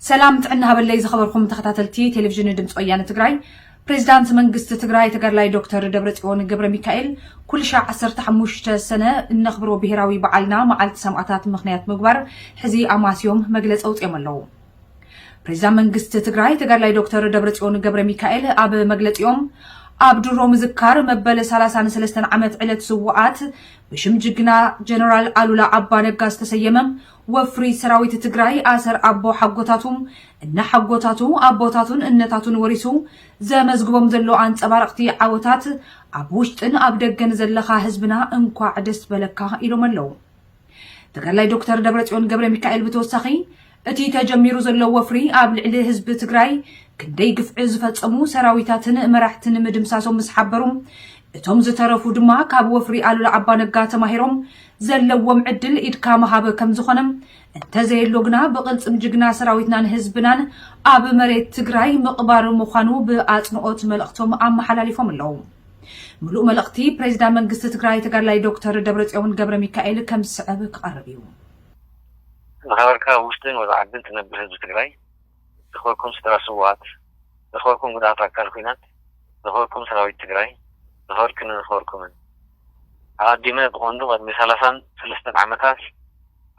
ሰላም ጥዕና ሃበለይ ዝኸበርኩም ተኸታተልቲ ቴሌቪዥን ድምፂ ወያነ ትግራይ ፕሬዚዳንት መንግስቲ ትግራይ ተጋድላይ ዶክተር ደብረፅዮን ገብረ ሚካኤል ኩልሻዕ 15 ሰነ እነኽብሮ ብሄራዊ በዓልና መዓልቲ ሰማእታት ምኽንያት ምግባር ሕዚ ኣማስዮም መግለፂ ኣውፅኦም ኣለዉ። ፕሬዚዳንት መንግስቲ ትግራይ ተጋድላይ ዶክተር ደብረፅዮን ገብረ ሚካኤል ኣብ መግለፂኦም ኣብ ድሮ ምዝካር መበል 33 ዓመት ዕለት ስውኣት ብሽም ጅግና ጀነራል ኣሉላ ኣባነጋ ዝተሰየመ ወፍሪ ሰራዊት ትግራይ ኣሰር ኣቦ ሓጎታቱ እነሓጎታቱ ኣቦታቱን እነታቱን ወሪሱ ዘመዝግቦም ዘሎ ኣንፀባረቕቲ ዓወታት ኣብ ውሽጥን ኣብ ደገን ዘለኻ ህዝብና እንኳዕ ደስ በለካ ኢሎም ኣለው። ተጋዳላይ ዶክተር ደብረፅዮን ገብረ ሚካኤል ብተወሳኺ እቲ ተጀሚሩ ዘሎ ወፍሪ ኣብ ልዕሊ ህዝቢ ትግራይ ክንደይ ግፍዒ ዝፈፀሙ ሰራዊታትን መራሕትን ምድምሳሶም ምስ ሓበሩ እቶም ዝተረፉ ድማ ካብ ወፍሪ ኣሉላ ኣባነጋ ተማሂሮም ዘለዎም ዕድል ኢድካ መሃብ ከም ዝኾነ እንተዘየሎ ግና ብቕልፅም ጅግና ሰራዊትናን ህዝብናን ኣብ መሬት ትግራይ ምቕባር ምዃኑ ብኣፅንኦት መልእኽቶም ኣመሓላሊፎም ኣለዉ። ምሉእ መልእኽቲ ፕሬዚዳ መንግስቲ ትግራይ ተጋድላይ ዶክተር ደብረፅዮን ገብረ ሚካኤል ከም ዝስዕብ ክቐርብ እዩ። ዝኸበርካ ኣብ ውሽጥን ወፃእ ዓድን ትነብር ህዝቢ ትግራይ፣ ዝኸበርኩም ስድራ ስውኣት፣ ዝኸበርኩም ጉድኣት ኣካል ኹናት፣ ዝኸበርኩም ሰራዊት ትግራይ፣ ዝኸበርክንን ዝኸበርኩምን። ኣቐዲመ ብቐንዱ ቐድሚ ሰላሳን ሰለስተን ዓመታት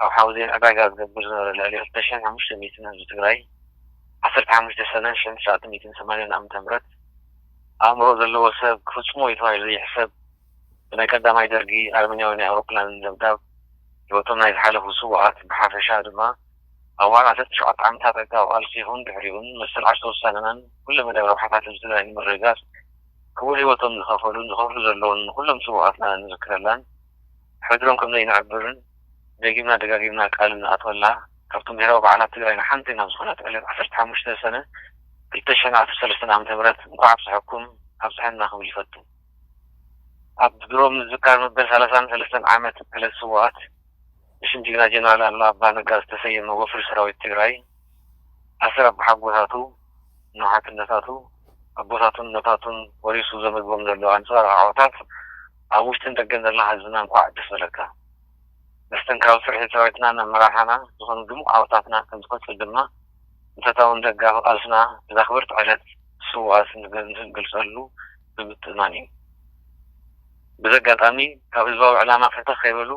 ኣብ ሓውዜን ዕዳጋ ዝገብር ዝነበረ ልዕሊ ክልተ ሽሕን ሓሙሽተ ሚእትን ህዝቢ ትግራይ ዓሰርተ ሓሙሽተ ሰነ ሽሕን ትሽዓተ ሚእትን ሰማንያን ዓመተ ምህረት ኣእምሮ ዘለዎ ሰብ ክፍጽሞ እዩ ተባሂሉ ዘይሕሰብ ብናይ ቀዳማይ ደርጊ ኣረመኔያዊ ናይ ኣውሮፕላን ደብዳብ ህይወቶም ናይ ዝሓለፉ ስውኣት ብሓፈሻ ድማ ኣብ ወርሒ ዓሰርተ ትሽዓተ ዓመታት ዕጥቃዊ ቃልሲ ይኹን ድሕሪኡን መሰል ዓርሰ ውሳነናን ኩለመዳያዊ ረብሓታት ህዝቢ ትግራይ ንምርግጋጽ ክቡር ህይወቶም ዝኸፈሉን ዝኸፍሉ ዘለዉን ንኹሎም ስውኣትና እንዝክረላን ሕድሮም ከምዘይንዕብርን ደጊምና ደጋጊምና ቃል እንኣትወላ ካብቶም ብሄራዊ በዓላት ትግራይ ንሓንቲ ናብ ዝኾነት ዕለት ዓሰርተ ሓሙሽተ ሰነ ክልተ ሽሕን ዓሰርተ ሰለስተን ዓመተ ምህረት እንኳዕ ኣብፀሐኩም ኣብፀሐና ክብል ይፈቱ። ኣብ ድሮ ምዝካር መበል ሰላሳን ሰለስተን ዓመት ዕለት ስውኣት ብሽም ጅግና ጀነራል ኣሉላ ኣባ ነጋ ዝተሰየመ ወፍሪ ሰራዊት ትግራይ ኣሰር ኣቦሓጎታቱ፣ ንውሓትነታቱ፣ ኣቦታቱን እኖታቱን ወሪሱ ዘመዝቦም ዘሎ ኣንፀባራቒ ዓወታት፣ ኣብ ውሽጥን ደገን ዘለና ህዝብና እንኳዕ ደስ በለካ። መስተንክራዊ ስርሒት ሰራዊትናን ኣመራርሓና ዝኾኑ ድሙቕ ዓወታትና ከምዝቕጽል ድማ ንፈታውን ደጋፊ ቃልስና እዛ ክብርቲ ዕለት ስውኣት እንገልጸሉ ብምትእምማን እዩ። በዚ ኣጋጣሚ ካብ ህዝባዊ ዕላማ ፈተኽ ከይበሉ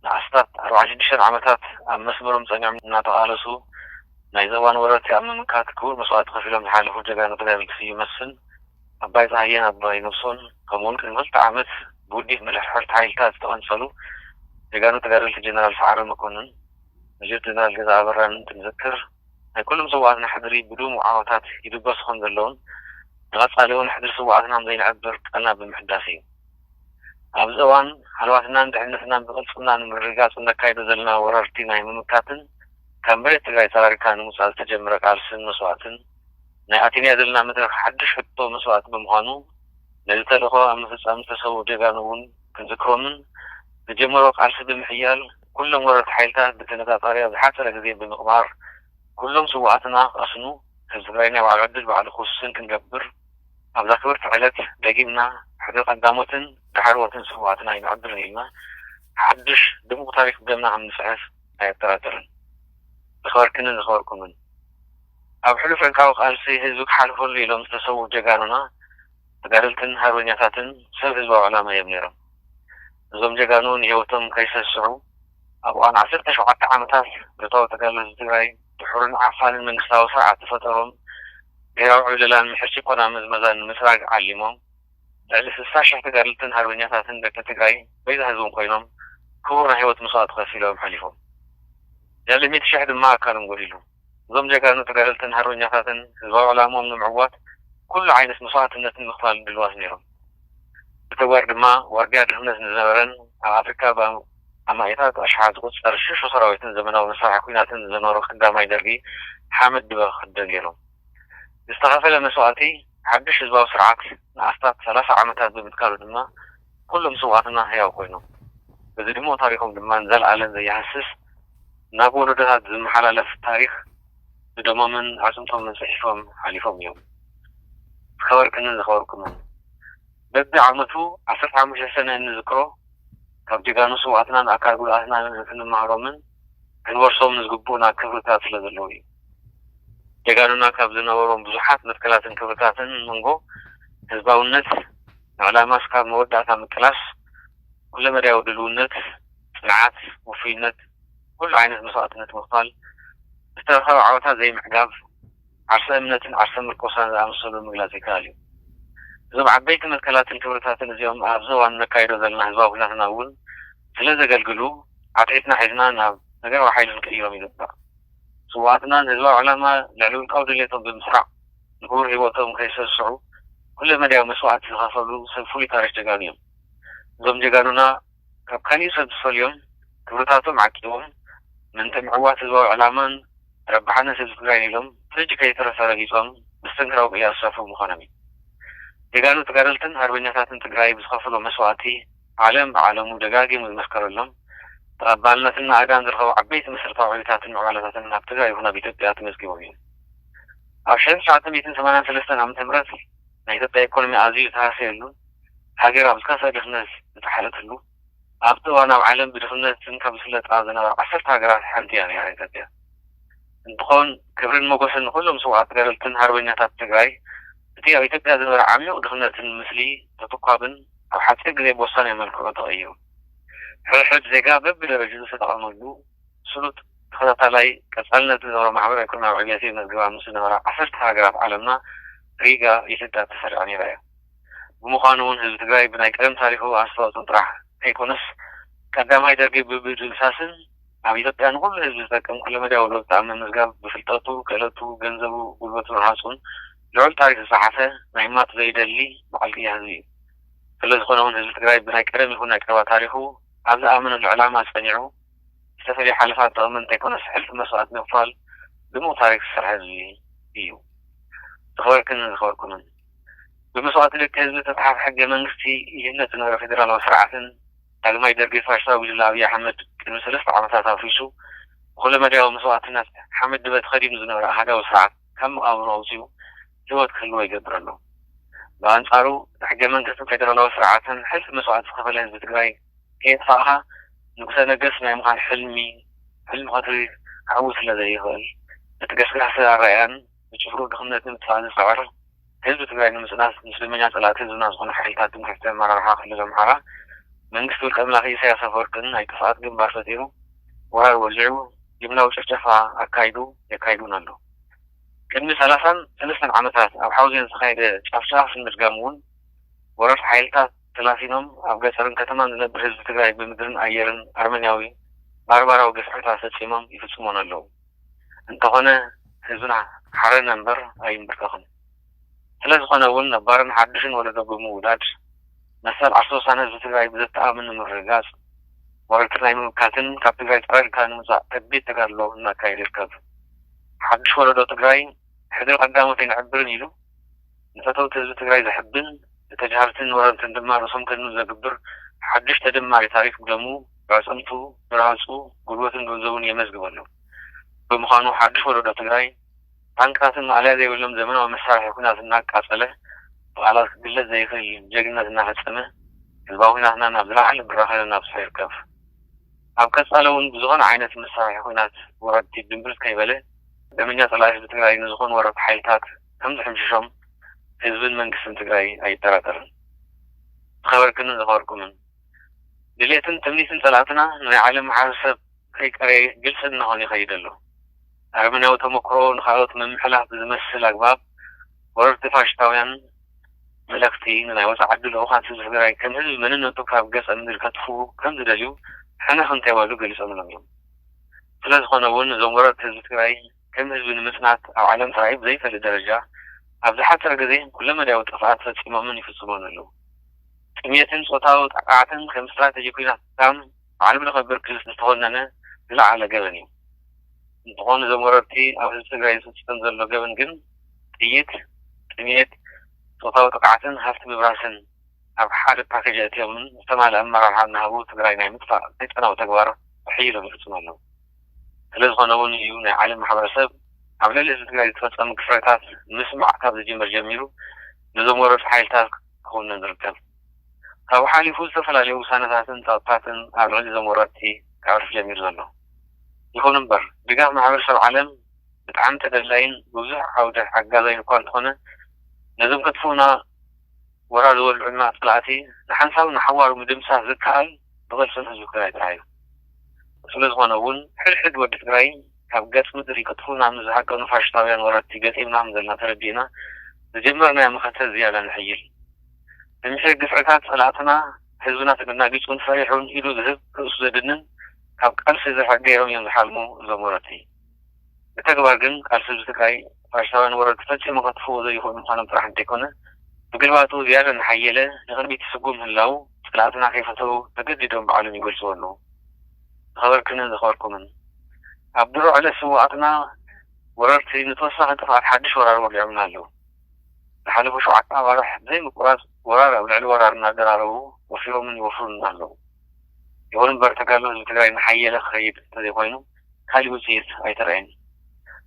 ንኣስታት ኣርብዓን ሽዱሽተን ዓመታት ኣብ መስመሮም ጸኒዖም እናተቓለሱ ናይዚ እዋን ወረርቲ ኣብ ምምካት ክቡር መስዋእቲ ከፊሎም ዝሓለፉ ጀጋኑ ተጋደልቲ ስዩም መስፍን፣ ኣባይ ጸሃየን ኣባይ ነብሶን ከምኡውን ቅድሚ ክልተ ዓመት ብውዲት ምርሕርሒ ሓይልታት ዝተቐንጸሉ ጀጋኑ ተጋደልቲ ጀነራል ሰዓረ መኮንን፣ መጀር ጀነራል ገዛኢ ኣበራን እንትንዝክር፣ ናይ ኩሎም ስውኣትና ሕድሪ ብድሙቕ ዓወታት ይድበሱ ከም ዘለዉን ንቐጻሊ እውን ሕድሪ ስውኣትና ም ዘይንዕብር ቃልና ብምሕዳስ እዩ። ኣብዚ እዋን ሃለዋትናን ድሕንነትናን ብቕልጽምና ንምርግጋጽ እነካይዶ ዘለና ወረርቲ ናይ ምምካትን ካብ መሬት ትግራይ ጸራሪግካ ንምውጻእ ዝተጀምረ ቃልስን መስዋእትን፣ ናይ ኣቲሊያ ዘለና መድረኽ ሓድሽ ሕቶ መስዋእቲ ብምዃኑ፣ ነዚ ተልእኾ ኣብ ምፍጻም ዝተሰውኡ ጀጋኑ እውን ክንዝክሮምን ንጀመሮ ቃልሲ ብምሕያል ኩሎም ወረርቲ ሓይልታት ብተነጻጻሪ ኣብ ዝሓጸረ ግዜ ብምቕባር ኩሎም ስውኣትና ክቐስኑ ህዝቢ ትግራይ ናይ ባዕሉ ዕድል ባዕሉ ክውስን ክንገብር ኣብዛ ክብርቲ ዕለት ደጊምና ሕድሪ ቀዳሞትን ዳሕረዎትን ስውኣትና ኣይነዕብርን ኢልና ሓድሽ ድሙቕ ታሪኽ ብደምና ከምንጽሕፍ ኣየጠራጥርን። ዝኸበርክንን ዝኸበርኩምን! ኣብ ሕሉፍ ዕንቃዊ ቃልሲ ህዝቢ ክሓልፈሉ ኢሎም ዝተሰውኡ ጀጋኑና ተጋደልትን ሃርበኛታትን ሰብ ህዝባዊ ዕላማ እዮም ነይሮም። እዞም ጀጋኑ ንህይወቶም ከይሰስዑ ኣብ እዋን ዓሰርተ ሸውዓተ ዓመታት ብረታዊ ተጋድሎ ህዝቢ ትግራይ ድሑርን ዓፋንን መንግስታዊ ስርዓት ዝፈጠሮም ብሄራዊ ዕብለላን ምሕር ጭቆና ምዝመዛን ንምጽራግ ዓሊሞም ልዕሊ ስሳ ሽሕ ተጋደልትን ሃርበኛታትን ደቂ ትግራይ በይዛ ህዝቦም ኮይኖም ክቡር ናይ ህይወት መስዋእቲ ከፊሎም ሓሊፎም። ልዕሊ ሚእቲ ሽሕ ድማ ኣካሎም ጎዲሉ። እዞም ጀጋኑ ተጋደልትን ሃርበኛታትን ህዝባዊ ዕላምኦም ንምዕዋት ኩሉ ዓይነት መስዋእትነት ንምኽፋል ድልዋት ነይሮም። ብተግባር ድማ ዋርድያ ድኽነት ንዝነበረን ኣብ ኣፍሪካ ብኣማኢታት ኣሽሓት ዝቑፀር ሽሹ ሰራዊትን ዘመናዊ መሳርሒ ኲናትን ንዘኖሩ ከዳማይ ደርጊ ሓመድ ድበ ክኽደን ገይሮም። ብዝተኸፈለ መስዋእቲ ሓዱሽ ህዝባዊ ስርዓት ንኣስታት ሰላሳ ዓመታት ብምትካሉ ድማ ኩሎም ስውኣትና ህያው ኮይኖም። በዚ ድሙቕ ታሪኾም ድማ ንዘልኣለም ዘይሃስስ፣ ናብ ወለዶታት ዝመሓላለፍ ታሪኽ ብደሞምን ኣዕጽምቶምን ጽሒፎም ሓሊፎም እዮም። ዝኸበርክንን ዝኸበርኩምን፣ በቢ ዓመቱ ዓሰርተ ሓሙሽተ ሰነ እንዝክሮ፣ ካብ ጀጋኑ ስውኣትናን ኣካል ጉድኣትናንን ክንመሃሮምን ክንወርሶምን ዝግብኡና ክብርታት ስለ ዘለዉ እዩ። ጀጋኑና ካብ ዝነበሮም ብዙሓት መትከላትን ክብርታትን መንጎ ህዝባውነት፣ ንዕላማ እስካብ መወዳእታ ምቅላስ፣ ኩለመዳያዊ ድልውነት፣ ጽንዓት፣ ውፉይነት፣ ኩሉ ዓይነት መስዋእትነት ምኽፋል፣ ዝተረኸበ ዓወታት ዘይምዕጋብ፣ ዓርሰ እምነትን ዓርሰ ምርኮሳን ዝኣመሰሉ ምግላጽ ይከኣል እዩ። እዞም ዓበይቲ መትከላትን ክብርታትን እዚኦም ኣብዚ እዋን እነካይዶ ዘለና ህዝባዊ ኩናትና እውን ስለ ዘገልግሉ ዓትዒትና ሒዝና ናብ ነገራዊ ሓይሊ ክንቅይሮም ይግባእ። ስውኣትና ንህዝባዊ ዕላማ ልዕሊ ውልቃዊ ድሌቶም ብምስራዕ ንክቡር ህይወቶም ከይሰስዑ ኩለ መዳያዊ መስዋእቲ ዝኸፈሉ ሰብ ፍሉይ ታሪኽ ጀጋኑ እዮም። እዞም ጀጋኑና ካብ ካሊእ ሰብ ዝፈልዮም ክብርታቶም ዓቂቦም ምእንተ ምዕዋት ህዝባዊ ዕላማን ረብሓን ህዝቢ ትግራይን ኢሎም ፍርጅ ከይተረፈ ረጊፆም መስተንክራዊ ቅያ ዝሰፍሩ ምዃኖም እዩ። ጀጋኑ ተጋደልትን ሃርበኛታትን ትግራይ ብዝኸፈሎ መስዋእቲ ዓለም ብዓለሙ ደጋጊሙ ዝመስከረሎም ተቐባልነትን ናእዳን ዝረኸቡ ዓበይቲ መሰረታዊ ዕብዮታትን ምዕባለታትን ኣብ ትግራይ ይኹን ኣብ ኢትዮጵያ ተመዝጊቦም እዮም። ኣብ ሽሕን ትሽዓተ ሚእትን ሰማንያን ሰለስተን ዓመተ ምህረት ናይ ኢትዮጵያ ኢኮኖሚ ኣዚዩ ዝተሃሰየሉ፣ ሃገር ኣብ ዝኸፍኣ ድኽነት ዝጠሓለትሉ፣ ኣብቲ እዋን ኣብ ዓለም ብድኽነት ዝንካ ዝፍለጣ ዝነበራ ዓሰርተ ሃገራት ሓንቲ እያ ነይራ ኢትዮጵያ። እንትኾን ክብርን ሞጎስን ንኹሎም ስውኣት ገረልትን ሃርበኛታት ትግራይ እቲ ኣብ ኢትዮጵያ ዝነበረ ዓሚዩቕ ድኽነትን ምስሊ ተተኳብን ኣብ ሓፂር ግዜ ብወሳኒ መልክዑ ተቐይሩ ሕድሕድ ዜጋ በቢደረጅኡ ዝተጠቐመሉ ስሉጥ ተኸታታላይ ቀፃልነት ዝገበረ ማሕበረ ኢኮኖሚያዊ ዕብየት የመዝግባ ምስ ዝነበራ ዓሰርተ ሃገራት ዓለምና ሪጋ ኢትዮጵያ ተሰሪዓ ነይራ እያ። ብምዃኑ'ውን ህዝቢ ትግራይ ብናይ ቀደም ታሪኹ ኣስተዋፅኦ ጥራሕ ከይኮነስ ቀዳማይ ደርጊ ብምድምሳስን ኣብ ኢትዮጵያ ንኹሉ ህዝቢ ዝጠቅም ኩለመዳያዊ ለውጢ ኣብ ምምዝጋብ ብፍልጠቱ፣ ክእለቱ፣ ገንዘቡ፣ ጉልበቱን ዓፅሙን ልዑል ታሪኽ ዝፀሓፈ ናይ ምማት ዘይደሊ በዓል ቅያ ህዝቢ እዩ። ስለዝኾነ'ውን ህዝቢ ትግራይ ብናይ ቀደም ይኹን ናይ ቀረባ ታሪኹ ኣብ ዝኣመነሉ ዕላማ ፀኒዑ ዝተፈለየ ሓለፋ ዝጠቕም እንተይኮነስ ሕልፊ መስዋእቲ ብምኽፋል ድሙቕ ታሪኽ ዝሰርሐ ህዝቢ እዩ። ዝኸበርክንን ዝኸበርኩምን! ብመስዋእቲ ደቂ ህዝቢ ዝተፅሓፈ ሕገ መንግስቲ ይህነፅ ዝነበረ ፌዴራላዊ ስርዓትን ዳግማይ ደርጊ ፋሽስታዊ ጉጅለ ኣብይ ኣሕመድ ቅድሚ ሰለስተ ዓመታት ኣፍሪሱ ብኹለ መዳያዊ መስዋእትነት ሓመድ ድበ ተኸዲኑ ዝነበረ ኣሃዳዊ ስርዓት ካብ መቓብሩ ኣውፂኡ ህይወት ክህልዎ ይገብር ኣሎ። ብኣንፃሩ ብሕገ መንግስትን ፌዴራላዊ ስርዓትን ሕልፊ መስዋእቲ ዝኸፈለ ህዝቢ ትግራይ ከየጥፋእኻ ንጉሰ ነገስ ናይ ምዃን ሕልሚ ሕልሚ ቀትሪ ክዕውት ስለዘይኽእል እቲ ገስጋሲ ኣረኣእያን ብጭፍርኡ ድኽነት ንምጥፋእ ዝፅዕር ህዝቢ ትግራይ ንምፅናት ምስ ደመኛ ፀላእቲ ህዝብና ዝኾኑ ሓይልታት ትምክሕቲ ኣመራርሓ ክልል ኣምሓራ መንግስቲ ውልቀ ኣምላኪ ኢሳያስ ኣፈወርቅን ናይ ጥፍኣት ግንባር ፈጢሩ ወራር ወሊዑ ጅምላዊ ጭፍጨፋ ኣካይዱ የካይድ እውን ኣሎ። ቅድሚ ሰላሳን ሰለስተን ዓመታት ኣብ ሓውዜን ዝተኻየደ ጫፍጫፍ ንምድጋም እውን ወረርቲ ሓይልታት ተላፊኖም ኣብ ገፀርን ከተማን ዝነብር ህዝቢ ትግራይ ብምድርን ኣየርን ኣርመንያዊ ባርባራዊ ግፍዕታት ፈፂሞም ይፍፅሞን ኣለው። እንተኾነ ህዝብና ሓረነ እምበር ኣይምብርከኽን። ስለ ዝኾነ እውን ነባርን ሓዱሽን ወለዶ ብምውዳድ መሰል ዓርሰ ውሳነ ህዝቢ ትግራይ ብዘተኣማምን ንምርግጋፅ ወረርቲ ናይ ምምካትን ካብ ትግራይ ፀራሪግካ ንምውፃእ ከቢድ ተጋድሎ እናካየደ ይርከብ። ሓዱሽ ወለዶ ትግራይ! ሕድሪ ቀዳሞት ኣይንዕብርን ኢሉ ንፈተውቲ ህዝቢ ትግራይ ዘሕብን፣ ንተጃሃርትን ወረርትን ድማ ርእሶም ከድኑ ዘግብር ሓዱሽ ተደማሪ ታሪኽ ብደሙ፣ ብኣዕፅምቱ፣ ብረሃፁ፣ ጉልበቱን ገንዘቡን የመዝግብ ኣሎ። ብምዃኑ ሓዱሽ ወለዶ ትግራይ ታንክታትን ማእለያ ዘይብሎም ዘመናዊ መሳርሒ ኵናት እናቃፀለ፣ ብቓላት ክግለፅ ዘይኽእል ጀግንነት እናፈፀመ ህዝባዊ ኵናትና ናብ ዝለዓለ ብራኸ ነናብሶ ይርከብ። ኣብ ቀፃሊ እውን ብዝኾነ ዓይነት መሳርሒ ኵናት ወረርቲ ድምብርፅ ከይበለ፣ ደመኛ ፀላኢ ህዝቢ ትግራይ ንዝኾኑ ወረርቲ ሓይልታት ከምዝሕምሽሾም ህዝብን መንግስትን ትግራይ ኣይጠራጠርን። ዝኸበርክንን ዘኽበርኩምን! ድሌትን ትምኒትን ፀላእትና ንናይ ዓለም ማሕበረሰብ ከይቀረየ ግልፂ እናኾነ ይኸይድ ኣሎ። ኣረመኔያዊ ተሞክሮ ንኻልኦት ምምሕላፍ ብዝመስል ኣግባብ ወረርቲ ፋሽሽታውያን መለኽቲ ንናይ ወፃእ ዓዲ ልኡኻት ህዝቢ ትግራይ ከም ህዝቢ መንነቱ ካብ ገፀ ምድሪ ከጥፍኡ ከምዝደልዩ ሕንኽ እንተይበሉ ገሊፆምሎም እዮም። ስለዝኾነ እውን እዞም ወረርቲ ህዝቢ ትግራይ ከም ህዝቢ ንምፅናት ኣብ ዓለም ተራእዩ ብዘይፈልጥ ደረጃ ኣብ ዝሓፀረ ግዘ ኩለመዳያዊ ጥፍኣት ፈፂሞምን ይፍፅሙን ኣለው። ጥምየትን ፆታዊ ጥቃዕትን ከም ስትራቴጂ ኩናት ክሳብ ብዓለም ለኸ ብርኪ ዝተኾነነ ዝለዓለ ገበን እዩ። እንትኾን እዞም ወረርቲ ኣብ ህዝቢ ትግራይ ዝፍፀም ዘሎ ገበን ግን ጥይት፣ ጥምየት፣ ፆታዊ ጥቅዓትን ሃፍቲ ምብራስን፣ ኣብ ሓደ ፓኬጅ ኣእትዮምን ዝተማለኣ ኣመራርሓ እናሃቡ ትግራይ ናይ ምጥፋእ ሰይጣናዊ ተግባር ብሕይ ኢሎም ይፍፅሙ ኣለው። ስለዝኾነ እውን እዩ ናይ ዓለም ማሕበረሰብ ኣብ ልዕሊ ህዝቢ ትግራይ ዝተፈፀመ ግፍዕታት ምስማዕ ካብ ዝጅምር ጀሚሩ ነዞም ወረርቲ ሓይልታት ክኹንን ዝርከብ። ካብኡ ሓሊፉ ዝተፈላለዩ ውሳነታትን ፀቕጥታትን ኣብ ልዕሊ እዞም ወረርቲ ከዕርፍ ጀሚሩ ዘሎ። ይኹን እምበር ድጋፍ ማሕበረሰብ ዓለም ብጣዕሚ ተደላይን ብብዙሕ ዓውደ ሓጋዛይን እኳ እንተኾነ ነዞም ከጥፍኡና፣ ወራ ዝወልዑልና ፀላእቲ ንሓንሳብን ንሓዋሩ ምድምሳስ ዝከኣል ብቅልፅም ህዝቢ ትግራይ ጥራሕ እዩ። ስለዝኾነ እውን ሕድ ሕድ ወዲ ትግራይ ካብ ገፅ ምድሪ ክጥፉእና ምስ ዝሃቀኑ ፋሽስታውያን ወረርቲ ገጢምና ምዘለና ተረዲእና ዝጀመርናዮ መኸተ ዝያዳ ነሕይል። ንምሒር ግፍዕታት ፀላእትና ህዝብና ተደናጊፁን ፈሪሑን ኢዱ ዝህብ ርእሱ ዘድንን ካብ ቃልሲ ዝርሕቅ ገይሮም እዮም ዝሓልሙ እዞም ወረርቲ። ብተግባር ግን ቃልሲ ህዝቢ ትግራይ ፋሽስታውያን ወረርቲ ፈጺሙ ከጥፍእዎ ዘይኽእሉ ምዃኖም ጥራሕ እንተይኮነ ብግልባጡ ዝያዳ እናሓየለ ንቕድሚት ይስጉም ምህላዉ ጽልኣትና ከይፈተዉ ተገዲዶም ባዕሎም ይገልጽዎ ኣለዉ። ዝኸበርክንን ዘኽበርኩምን ኣብ ድሮ ዕለት ስውኣትና ወረርቲ ንተወሳኺ ጥፍኣት ሓድሽ ወራር ወሊዖምልና ኣለዉ። ዝሓለፉ ሸውዓተ ኣዋርሕ ብዘይ ምቁራጽ ወራር ኣብ ልዕሊ ወራር እናደራረቡ ወፊሮምን ይወፍሩልና ኣለዉ። ይኹን እምበር ተጋድሎ ህዝቢ ትግራይ እናሓየለ ክኸይድ እንተዘይኮይኑ ካሊእ ውፅኢት ኣይተረኣየን እዩ።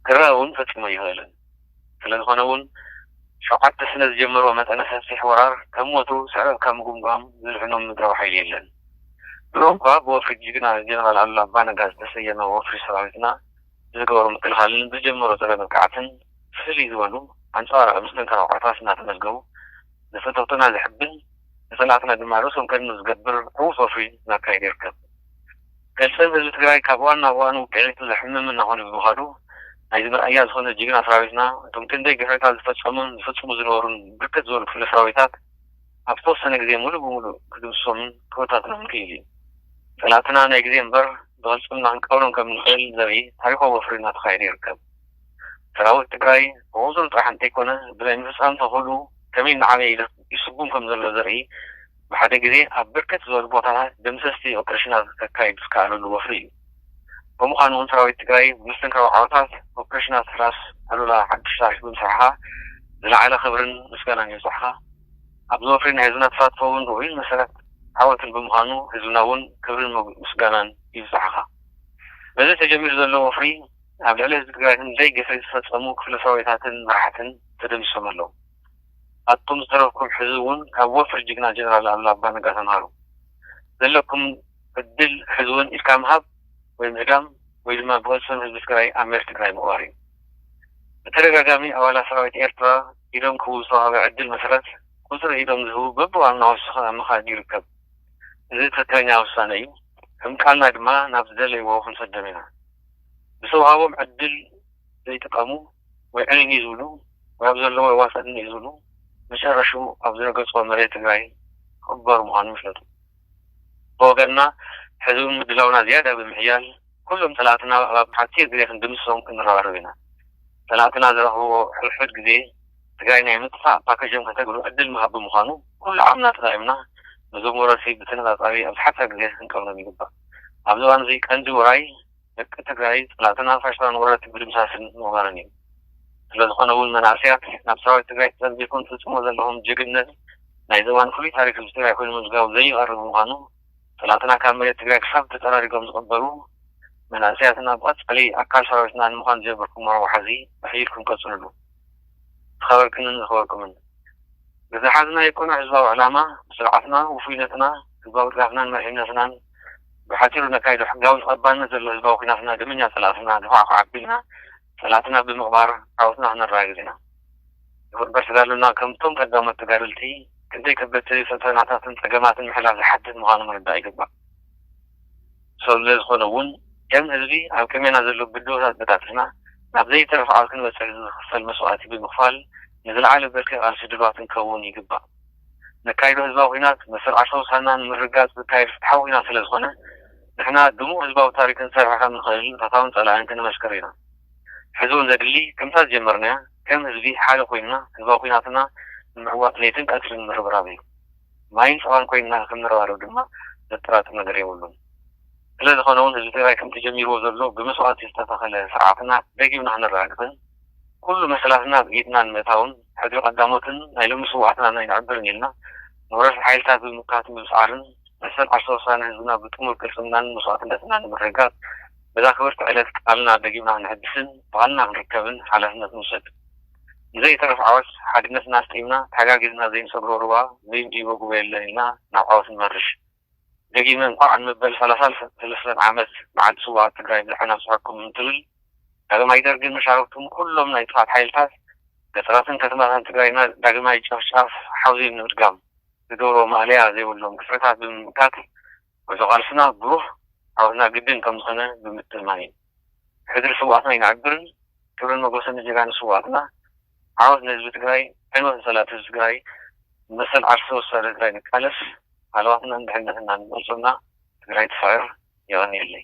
ክረኣ እውን ፈፂሙ ኣይኽእልን። ስለዝኾነ እውን ሸውዓተ ስነ ዝጀመርዎ መጠነ ሰፊሕ ወራር ከም ወትሩ ስዕረት ካብ ምጉምጓም ዝድሕኖም ምድራዊ ሓይሊ የለን። ድሮ እኳ ብወፍሪ ጅግና ጀነራል ኣሉላ ኣባ ነጋ ዝተሰየመ ወፍሪ ሰራዊትና ብዝገበሮ ምክልኻልን ብዝጀመሮ ፀረ መጥቃዕትን ፍልይ ዝበሉ ኣንፃባራቒ መስተንክራዊ ዓወታት እናተመዝገቡ ንፍትውትና ዝሕብን ንጸላእትና ድማ ርእሶም ከድኑ ዝገብር ዕዉት ወፍሪ እናካየደ ይርከብ። ገልጸም ህዝቢ ትግራይ ካብ እዋን ናብ እዋን ውቅዒቱ ዘሕምም እናኾነ ብምኻዱ ናይዚ መርኣያ ዝኾነ ጅግና ሰራዊትና እቶም ክንደይ ግፍዕታት ዝፈጸሙን ዝፍጽሙ ዝነበሩን ብርክት ዝበሉ ክፍለ ሰራዊታት ኣብ ዝተወሰነ ግዜ ሙሉእ ብሙሉእ ክድምስሶምን ክበታትኖምን ክኢሉ እዩ። ጸላእትና ናይ ግዜ እምበር ብቅልጽምና ክንቀብሮም ከምንኽእል ዘርኢ ታሪኽዊ ወፍሪ እናተኻየደ ይርከብ። ሰራዊት ትግራይ ብቑፅሪ ጥራሕ እንተይኮነ ብናይ ምፍፃም ተኽእልኡ ከመይ እናዓበየ ይልኽ ይስጉም ከም ዘሎ ዘርኢ ብሓደ ግዜ ኣብ ብርክት ዝበሉ ቦታታት ደምሰስቲ ኦፕሬሽናት ከካይድ ዝከኣለሉ ወፍሪ እዩ። ብምዃኑ እውን ሰራዊት ትግራይ ብምስትንካው ዓወታት ኦፕሬሽናት ራስ ኣሉላ ሓዱሽ ታሪኽ ብምስራሕኻ ዝለዓለ ክብርን ምስጋናን ይብፃሕኻ። ኣብዚ ወፍሪ ናይ ህዝብና ተሳትፎ እውን ርኡይን መሰረት ዓወትን ብምዃኑ ህዝብና እውን ክብርን ምስጋናን ይብፃሕኻ። በዚ ተጀሚሩ ዘሎ ወፍሪ ኣብ ልዕሊ ህዝቢ ትግራይ ግን ዘይ ግፍዒ ዝፈፀሙ ክፍለ ሰራዊታትን መራሕትን ተደምሲሶም ኣለው። ኣቱም ዝተረፍኩም ሕዚ እውን ካብ ወፍሪ ጅግና ጀነራል ኣሉላ ኣባ ነጋ ተምሃሩ። ዘለኩም ዕድል ሕዚ እውን ኢድካ ምሃብ ወይ ምህዳም ወይ ድማ ብቅልፅም ህዝቢ ትግራይ ኣብ መሬት ትግራይ ምቕባር እዩ። ብተደጋጋሚ ኣባላት ሰራዊት ኤርትራ ኢዶም ክህቡ ዝተውሃበ ዕድል መሰረት ቁፅሪ ኢዶም ዝህቡ በቢእዋኑ እናወሰኸ ኣብ ምኻድ ይርከብ። እዚ ትኽክለኛ ውሳነ እዩ። ከም ቃልና ድማ ናብ ዝደለይዎ ክንሰዶም ኢና። ብዝተውሃቦም ዕድል ዘይጥቀሙ ወይ ዕንይንይ ዝብሉ ወይ ኣብ ዘለዎ የዋፅእ እንዲዒ ዝብሉ መጨረሽኡ ኣብ ዝረገፅዎ መሬት ትግራይ ክቕበሩ ምዃኖም ይፍለጡ። ብወገንና ሕዚ እውን ምድላውና ዝያዳ ብምሕያል ኩሎም ፀላእትና ኣብ ሓፂር ግዜ ክንድምስሶም ክንረባረብ ኢና። ፀላእትና ዝረኽብዎ ሕድሕድ ግዜ ትግራይ ናይ ምጥፋእ ፓከጆም ከተግብሩ ዕድል ምሃብ ብምዃኑ ኩሉ ዓቕምና ተጠቒምና ነዞም ወረርቲ ብተነፃፃቢ ኣብ ዝሓፀረ ግዜ ክንቀብሮም ይግባእ። ኣብዚ እዋን እዚ ቀንዲ ውራይ ደቂ ትግራይ ፀላእትን ኣንፋሽላን ወረርቲ ምድምሳስን ምቕባርን እዩ። ስለዝኾነ እውን መናእሰያት ናብ ሰራዊት ትግራይ ተፀንቢርኩም ትፍፅምዎ ዘለኹም ጅግንነት ናይዚ እዋን ፍሉይ ታሪክ ህዝቢ ትግራይ ኮይኑ ምምዝጋቡ ዘይቐሪ ብምዃኑ ፀላእትና ካብ መሬት ትግራይ ክሳብ ተፀራሪጎም ዝቕበሩ መናእሰያትና ብቐፃሊ ኣካል ሰራዊትና ንምዃን ዝጀመርኩሞ ወሓዚ ኣሕይልኩም ቀፅሉሉ። ዝኸበርክንን ዝኸበርኩምን ንዝሓዝናዮ ቅኑዕ ህዝባዊ ዕላማ፣ ንስርዓትና፣ ውፉይነትና፣ ህዝባዊ ድጋፍናን መሪሕነትናን፣ ብሓጺሩ ነካይዶ ሕጋዊ ተቐባልነት ዘለዎ ህዝባዊ ኲናትና ደመኛ ጸላእትና ንኳዕኳዕ ኣቢልና ጸላእትና ብምቕባር ዓወትና ክነረጋግጽ ኢና። ይኹን እምበር ተጋድሎና ከምቶም ቀዳሞት ተጋደልቲ ክንደይ ከበድቲ ፈተናታትን ጸገማትን ምሕላፍ ዝሓትት ምዃኑ ምርዳእ ይግባእ። ሰብ ስለዝኾነ እውን ከም ህዝቢ ኣብ ቅድሜና ዘሎ ብድሆታት በጣጢስና ናብ ዘይተርፍ ዓወት ክንበፅሕ እዚ ዝኽፈል መስዋእቲ ብምኽፋል ንዝለዓለ ብርኪ ቃልሲ ድሉዋት ክንከውን ይግባእ። ነካይዶ ህዝባዊ ኹናት መሰል ዓርሰ ውሳንና ንምርግጋፅ ዝካየድ ፍትሓዊ ኹናት ስለዝኾነ ንሕና ድሙቕ ህዝባዊ ታሪክ ክንሰርሕ ከምንኽእል ንፈታውን ፀላእን ክነመስክር ኢና። ሕዚ እውን ዘድሊ ከምታ ዝጀመርናያ ከም ህዝቢ ሓደ ኮይንና ህዝባዊ ኹናትና ንምዕዋት ለይትን ቀትርን ምርብራብ እዩ። ማይን ጸባን ኮይንና ከምንረባረብ ድማ ዘጠራጥር ነገር የብሉን። ስለ ዝኾነውን ህዝቢ ትግራይ ከምቲ ጀሚርዎ ዘሎ ብመስዋእቲ ዝተተኸለ ስርዓትና ደጊምና ክነረጋግጽን ኩሉ መሰላትና ኣብ ኢድና ንምእታውን ሕድሪ ቀዳሞትን ናይ ሎሚ ስውኣትናን ኣይንዕብርን ኢልና ንወረርቲ ሓይልታት ብምምካትን ብምስዓርን መሰል ዓርሰ ውሳነ ህዝብና ብጥሙር ቅልጽምናን መስዋእትነትናን ንምርግጋጽ በዛ ክብርቲ ዕለት ቃልና ደጊምና ክነሕድስን ብቓልና ክንርከብን ሓላፍነት ንውሰድ። ንዘይተርፍ ዓወት ሓድነትና ኣስጢምና ተሓጋጊዝና ዘይንሰግሮ ሩባ ዘይንድይቦ ጉቦ የለን ኢልና ናብ ዓወት ንመርሽ። ደጊመ እንኳዕ ንመበል ሰላሳ ሰለስተን ዓመት መዓልቲ ስውኣት ትግራይ ብድሐን ኣብፀሐኩም እንትብል ዳግማይ ደርግን መሻርክቱን ኩሎም ናይ ጥፍኣት ሓይልታት ገጠራትን ከተማታትን ትግራይና ዳግማይ ጨፍጫፍ ሓውዜን ንምድጋም ዝገብርዎ ማእለያ ዘይብሎም ግፍዕታት ብምምካት ጉዕዞ ቃልስና ብሩህ ዓወትና ግድን ከም ዝኾነ ብምትእምማን እዩ። ሕድሪ ስውኣትና ይንዕብርን ክብርን ሞጎስን ንጀጋኑ ስውኣትና ዓወት ንህዝቢ ትግራይ ዕንወት ንፀላእቲ ህዝቢ ትግራይ ንመሰል ዓርሰ ውሳነ ትግራይ ንቃለስ ሃለዋትናን ድሕንነትናን ንመርፆና ትግራይ ትስዕር የቐንየለይ።